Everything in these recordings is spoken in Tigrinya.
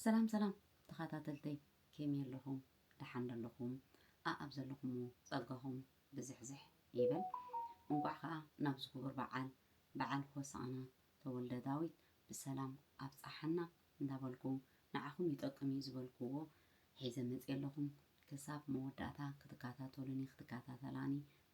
ሰላም ሰላም ተኻታተልተይ ኬሜይ ኣለኹም ዳሓን ዶ ኣለኹም ኣኣብ ዘለኹሞ ጸጋኹም ብዝሕዝሕ ይበል እንቋዕ ኻኣ ናብዚ ኩቡር ባዓል ባዓል ሆሳእና ተወልደ ዳዊት ብሰላም ኣብጻሓና እንዳበልኩ ናዓኹም ይጠቅም እዩ ዝበልኩዎ ሒዘ መጽየ ኣለኹ ክሳብ መወዳእታ ክትካታተሉኒ ክትካታተላኒ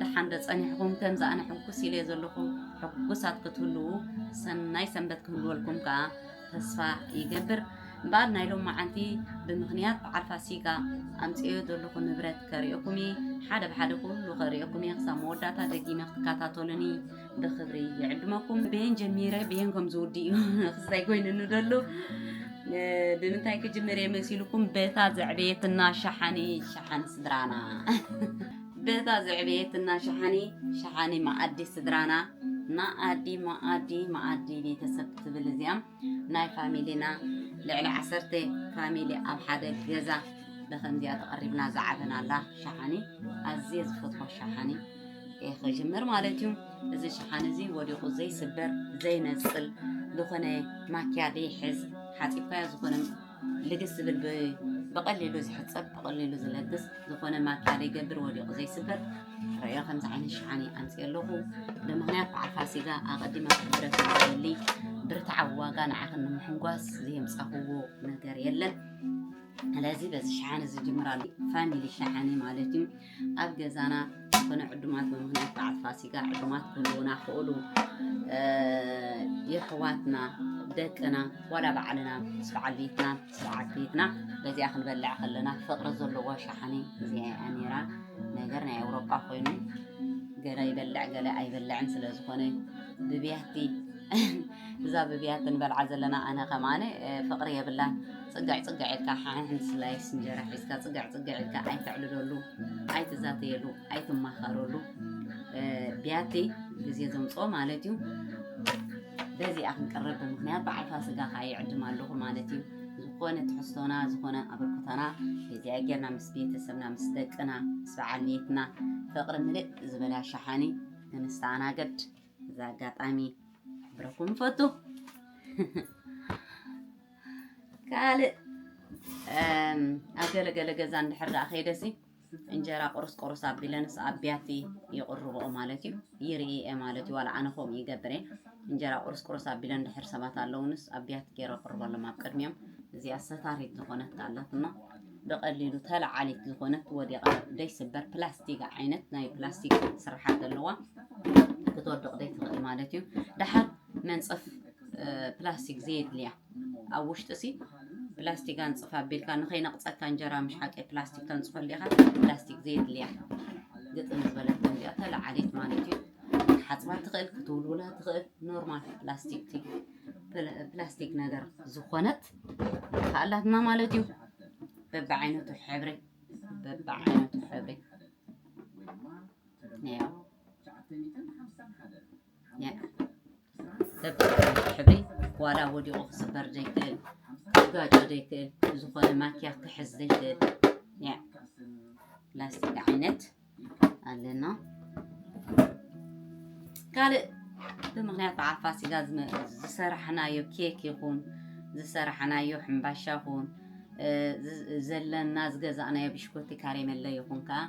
ደሓን ዶ ጸኒሕኹም ከምዚ ኣነ ሕጉስ ኢለዮ ዘለኹ ሕጉሳት ክትህልዉ ሰናይ ሰንበት ክህልወልኩም ከኣ ተስፋ ይገብር እምበኣር ናይ ሎማዓንቲ ብምኽንያት በዓል ፋሲጋ ኣምፅኦ ዘለኹ ንብረት ከርእየኩም እየ ሓደ ብሓደ ኩሉ ከርእየኩም እየ ክሳብ መወዳእታ ደጊመ ክትከታተሉኒ ብክብሪ ይዕድመኩም ብየን ጀሚረ ብየን ከም ዝውድእ እዩ ክስታይ ኮይኑኒ ደሎ ብምንታይ ክጅምር እየ መሲልኩም በታ ዘዕበየትና ሸሓኒ ሸሓን ስድራና በታ ዘዕበየትና ሸሓኒ ሸሓኒ መኣዲ ስድራና መኣዲ መኣዲ መኣዲ ቤተሰብ ትብል እዚኣ ናይ ፋሚሊና ልዕሊ ዓሰርተ ፋሚሊ ኣብ ሓደ ገዛ ብከምዚኣ ተቐሪብና ዝዓበናላ ሸሓኒ ኣዝየ ዝፈትዋ ሸሓኒ ክጅምር ማለት እዩ እዚ ሸሓኒ እዚ ወዲቑ ዘይስበር ዘይነፅል ዝኾነ ማኪያ ዘይሕዝ ሓፂብካዮ ዝኾነ ልግስ ዝብል ብቐሊሉ ዝሕጸብ ብቐሊሉ ዝለግስ ዝኾነ ማኪያ ዘይገብር ወዲቑ ዘይስበር ረዮ ከምዚ ዓይነት ሽሓኒ ኣምፅኦ ኣለኹ ብምክንያት በዓል ፋሲጋ ኣቐዲመ ክሕብረክ ዝደሊ ብርትዓዊ ዋጋ ንዓኽን ንምሕንጓስ ዘየምፃኹዎ ነገር የለን ስለዚ በዚ ሸሓኒ ዝጅምራሉ ፋሚሊ ሸሓኒ ማለት እዩ ኣብ ገዛና ዝኾነ ዕዱማት ብምኽንያት በዓል ፋሲጋ ዕዱማት ክህልውና ክእሉ የሕዋትና ደቅና ዋላ ባዕልና ምስ በዓል ቤትና ምስ በዓል ቤትና በዚኣ ክንበልዕ ከለና ፍቕሪ ዘለዎ ሸሓኒ እዚኣ እያ ነይራ ነገር ናይ ኣውሮጳ ኮይኑ ገለ ይበልዕ ገለ ኣይበልዕን ስለ ዝኾነ ብብያቲ እዛ ብብያቲ ንበልዓ ዘለና ኣነ ከማን ፍቅሪ የብላን ጽግዕ ጽግዕ ኢልካ ሓንሕን ስላይስ እንጀራ ሒዝካ ጽግዕ ጽግዕ ኢልካ ኣይተዕልለሉ ኣይትዛተየሉ ኣይትማኸረሉ ብያቲ ግዜ ዘምጽኦ ማለት እዩ በዚኣ ክንቀርብ ብምክንያት በዓል ፋስጋ ከዓ ይዕድም ኣለኹ ማለት እዩ ዝኾነ ትሕዝቶና ዝኾነ ኣበርክቶና በዚኣ ጌርና ምስ ቤተሰብና ምስ ደቅና ምስ በዓል ቤትና ፍቅሪ ምልእ ዝበላ ሸሓኒ ክንስተኣናገድ እዚ ኣጋጣሚ ክሕብረኩም ፈቱ ካልእ ኣብ ገለገለ ገዛ እንድሕር ደኣ ከይደሲ እንጀራ ቁርስ ቁርስ ኣቢለንስ ኣብ ቢያቲ ይቕርብኦ ማለት እዩ ይርኢ እየ ማለት እዩ ዋላ ኣነ ከምኡ ይገብር እየ እንጀራ ቁርስ ቁርስ ኣቢለን ድሕር ሰባት ኣለውንስ ኣብ ቢያቲ ገይረ ቅርበሎም ኣብ ቅድሚኦም እዚኣ ሰታሪት ዝኾነት ካላትና ብቐሊሉ ተላዓሊት ዝኾነት ወዲቓ ዘይስበር ፕላስቲክ ዓይነት ናይ ፕላስቲክ ስርሓት ኣለዋ ክትወድቕ ዘይትኽእል ማለት እዩ ደሓር መንፀፍ ፕላስቲክ ዘየድልያ ኣብ ውሽጢ ሲ ፕላስቲክ ኣንፅፍ ኣቢልካ ንኸይነቕፀካ እንጀራ ምሻቂ ፕላስቲክ ተንፅፈሉ ኢኻ ፕላስቲክ ዘየድልያ ግጥም ዝበለት እዚኣ ተላዓሊት ማለት እዩ ክትሓፅባ ትኽእል ክትውልውላ ትኽእል ኖርማል ፕላስቲክ ፕላስቲክ ነገር ዝኾነት ከኣላትና ማለት እዩ በብዓይነቱ ሕብሪ በብዓይነቱ ሕብሪ ነዮ በብዓይነቱ ሕብሪ ዋላ ወዲቑ ክስበር ዘይክእል ክጋጮ ዘይክእል ዝኾነ ማኪያ ክሕዝ ዘይክእል ላስቲክ ዓይነት ኣለና ካልእ ብምክንያት በዓል ፋሲጋ ዝሰራሕናዮ ኬክ ይኹን ዝሰራሕናዮ ሕምባሻ ይኹን ዘለና ዝገዛእናዮ ብሽኮቲ ካሬመለ ይኹን ከዓ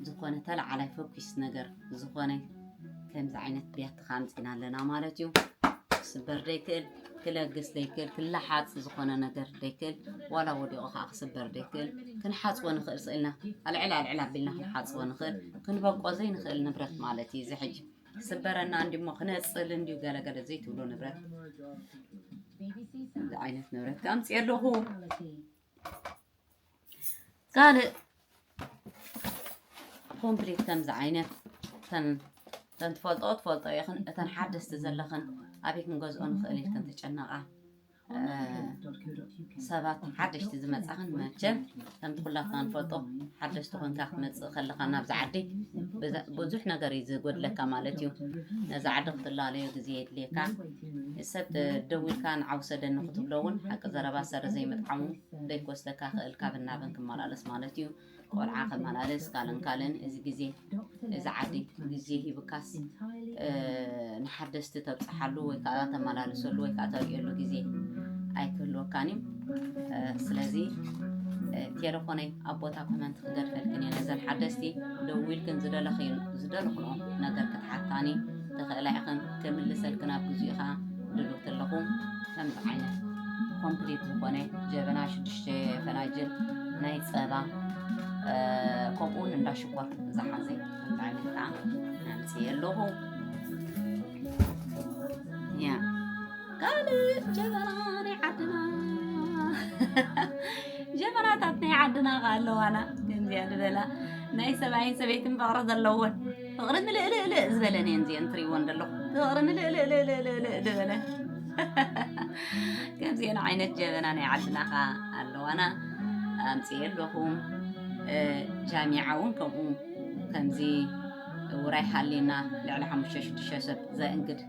ዝኾነ ተለዓላይ ፈኪስ ነገር ዝኾነ ከምዚ ዓይነት ቢያቲ ፋብሪካ ኣምፂና ኣለና ማለት እዩ ክስበር ዘይክእል ክለግስ ዘይክእል ክለሓፅ ዝኾነ ነገር ዘይክእል ዋላ ወዲቑ ከዓ ክስበር ዘይክእል ክንሓፅቦ ንኽእል ስእልና ኣልዕል ኣልዕል ኣቢልና ክንሓፅቦ ንኽእል ክንበቆ ዘይንኽእል ንብረት ማለት እዩ እዚ ሕጂ ክስበረና እንዲሞ ክነፅል እንዲዩ ገለገለ ዘይትብሎ ንብረት ዓይነት ንብረት ኣምፂ ኣለኹ ካልእ ኮምፕሊት ከምዚ ዓይነት እተን እተን ትፈልጦ ትፈልጦ ኢኽን እተን ሓደስቲ ዘለኽን ኣበይ ክንገዝኦ ንኽእል ኢልክን ትጨነቓ ሰባት ሓደሽቲ ዝመፃኽን መቸም ከምቲ ኩላትና ንፈልጦ ሓደሽቲ ኮንካ ክትመፅእ ከለኻ ናብዚ ዓዲ ብዙሕ ነገር እዩ ዝጎድለካ ማለት እዩ ነዚ ዓዲ ክትላለዮ ግዜ የድልየካ ንሰብ ደዊልካ ንዓ ውሰደኒ ክትብሎ እውን ሓቂ ዘረባ ሰሪ ዘይምጥዓሙ ደይኮስተካ ክእል ካብን ናብን ክመላለስ ማለት እዩ ቆልዓ ከመላለስ ካልእን ካልእን እዚ ግዜ እዚ ዓዲ ግዜ ሂብካስ ንሓደስቲ ተብፅሓሉ ወይ ከዓ ተመላልሰሉ ወይ ከዓ ተርእየሉ ግዜ ኣይክህልወካን እዩ ስለዚ ቴሌፎነይ ኣብ ቦታ ኮመንት ክገድፈልክን እየ ነዘን ሓደስቲ ደዊልክን ዝደለኽዮ ዝደለኽንኦ ነገር ክትሓታኒ ተኽእላ ኢኽን ክምልሰልክን ኣብ ግዚኡኻ ድሉው ተለኹ ከምዚ ዓይነት ኮምፕሊት ዝኾነ ጀበና ሽዱሽተ ፈናጅል ናይ ፀባ ከምኡ እውን እንዳ ሽኮር ዝሓዘ ከምዚ ዓይነት ከዓ ኣምፅየ ኣለኹ ያ ካልእ ጀበና ናይ ዓድና ጀበናታት ናይ ዓድና ከዓ ኣለዋና ከምዚኣ ዝበላ ናይ ሰብኣይን ሰበይትን ፍቕሪ ዘለወን ፍቕሪ ምልእልእልእ ዝበለን እየን እዚአን ትሪእዎን ዘለኹም ፍቕሪ ምልእልእልእልእልእ ዝበለ ከምዚአን ዓይነት ጀበና ናይ ዓድና ኸዓ ኣለዋና ኣምፅኤ ኣለኹም ጃሚዓ እውን ከምኡ ከምዚ ውራይ ሃሊና ልዕሊ ሓሙሽተ ሽዱሽተ ሰብ ዘእንግድ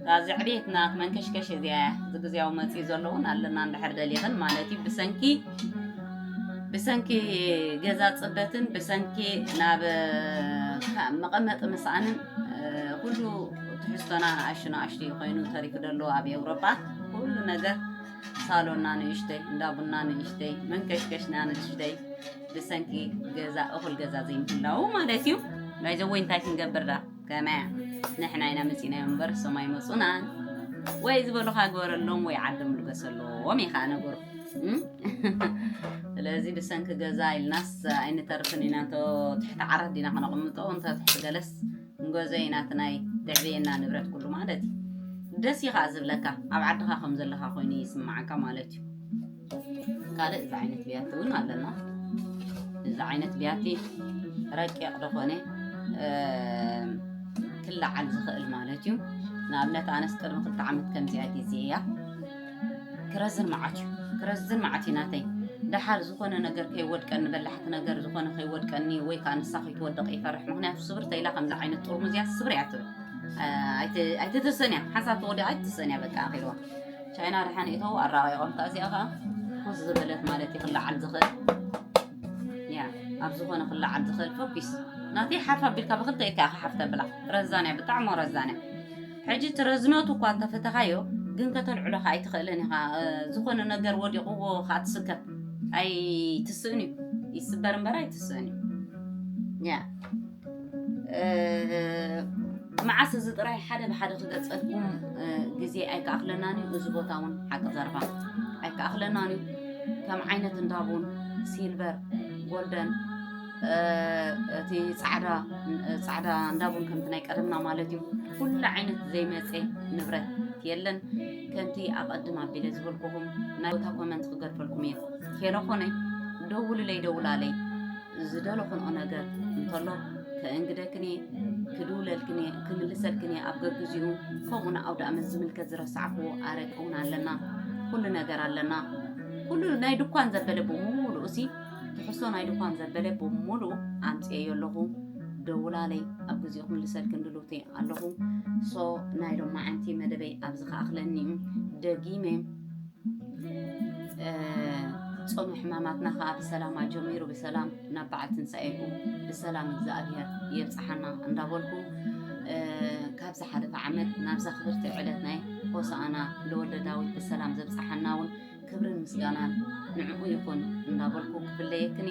እታ ዘዕብየት ናት መንከሽከሽ እዚኣ እያ እዚ ግዜያዊ መፅኢ ዘሎ እውን ኣለና እንድሕር ደሊኽን ማለት እዩ ብሰንኪ ብሰንኪ ገዛ ፅበትን ብሰንኪ ናብ መቐመጢ ምስኣንን ኩሉ ትሕዝቶና ንኣሹ ንኣሽቱ እዩ ኮይኑ ተሪፉ ደሎ ኣብ ኤውሮጳ ኩሉ ነገር ሳሎና ንእሽተይ እንዳ ቡና ንእሽተይ መንከሽከሽና ንእሽተይ ብሰንኪ ገዛ እኹል ገዛ ዘይምህላዉ ማለት እዩ ናይዘወይ እንታይ ክንገብር ዳ ከመያ ንሕና ኢና መፂእናዮ እምበር እሶም ኣይመፁናን ወይ ዝበሉካ ግበረሎም ወይ ዓዶም ልገሰሎም እዩ ከዓ ነገሩ ስለዚ ብሰንኪ ገዛ ኢልናስ ኣይንተርፍን ኢና እንተ ትሕቲ ዓራት ዲና ከነቕምጦ እንተ ትሕቲ ገለስ ንገዘ ኢና እቲ ናይ ደዕብየና ንብረት ኩሉ ማለት እዩ ደስ እዩ ከዓ ዝብለካ ኣብ ዓድኻ ከም ዘለካ ኮይኑ ይስማዓካ ማለት እዩ ካልእ እዚ ዓይነት ብያቲ እውን ኣለና እዚ ዓይነት ብያቲ ረቂቕ ዝኾነ ክለዓል ዝኽእል ማለት እዩ ንኣብነት ኣነስ ቅድሚ ክልተ ዓመት ከምዚ ኣይቲ እዚ እያ ክረዝን መዓት እዩ ክረዝን መዓት እዩ ናተይ ደሓር ዝኾነ ነገር ከይወድቀኒ በላሕቲ ነገር ዝኾነ ከይወድቀኒ ወይ ከዓ ንሳ ከይትወደቕ ይፈርሕ ምክንያቱ ስብር ተይላ ከምዚ ዓይነት ጥርሙዝ እያ ስብር እያ ትብል ኣይትትሰን እያ ሓንሳብ ተወዲኣ ኣይትሰን እያ በቃ ኣኺልዋ ቻይና ርሓን እተው ኣራቂቆም ከኣ እዚኣ ከኣ ኮስ ዝበለት ማለት እዩ ክለዓል ዝኽእል ያ ኣብ ዝኾነ ክለዓል ዝኽእል ፎኪስ ናተይ ሓፍ ኣቢልካ ብክልተ ኢድካ ኢኻ ሓፍ ተብላ ረዛንያ ብጣዕሚ ረዛንያ ሕጂ እቲ ረዝነቱ እኳ እንተፈተኻዮ ግን ከተልዕሎ ከዓ ኣይትኽእልን ኢኻ ዝኾነ ነገር ወዲቕዎ ከዓ ትስከፍ ኣይትስእን እዩ ይስበር እምበር ኣይትስእን እዩ ያ መዓስ እዚ ጥራይ ሓደ ብሓደ ክገልፀልኩም ግዜ ኣይከኣኽለናን እዩ እዚ ቦታ እውን ሓቂ ዘረባ ኣይከኣኽለናን እዩ ከም ዓይነት እንዳቡን ሲልቨር ጎልደን እቲ ፃዕዳ ፃዕዳ እንዳቡን ከምቲ ናይ ቀደምና ማለት እዩ ኩሉ ዓይነት ዘይመፀ ንብረት የለን ከምቲ ኣቐድም ኣቢለ ዝበልኩኹም ናይ ቦታ ኮመንት ክገድፈልኩም እየ ቴለፎነይ ደውልለይ ደውላለይ ዝደለኹንኦ ነገር እንተሎ ከእንግደክን እየ፣ ክድውለልክን እየ፣ ክምልሰልክን እየ፣ ኣብ ገግዚኡ ከምኡ ንኣውደኣመት ዝምልከት ዝረሳዕክዎ ኣረቂ እውን ኣለና፣ ኩሉ ነገር ኣለና። ኩሉ ናይ ድኳን ዘበለ ብምሉኡ ሲ ትሕሶ ናይ ድኳን ዘበለ ብምሉኡ ኣምፅኤዮ ኣለኹ ደውላለይ ኣብ ግዜኡ ክምልሰልክን ድልውቲ ኣለኹ ሶ ናይ ሎማዓንቲ መደበይ ኣብዚ ከኣኽለኒ እዩ ደጊመ ጾመ ሕማማትና ከኣ ብሰላም ኣጀሚሩ ብሰላም ናብ በዓል ትንሳኤኡ ብሰላም እግዚኣብሔር የብጽሓና እንዳበልኩ ካብ ዝሓለፈ ዓመት ናብዛ ክብርቲ ዕለት ናይ ሆሳኣና ለወልደ ዳዊት ብሰላም ዘብጽሓና እውን ክብርን ምስጋናን ንዕኡ ይኹን እንዳበልኩ ክፍለየክን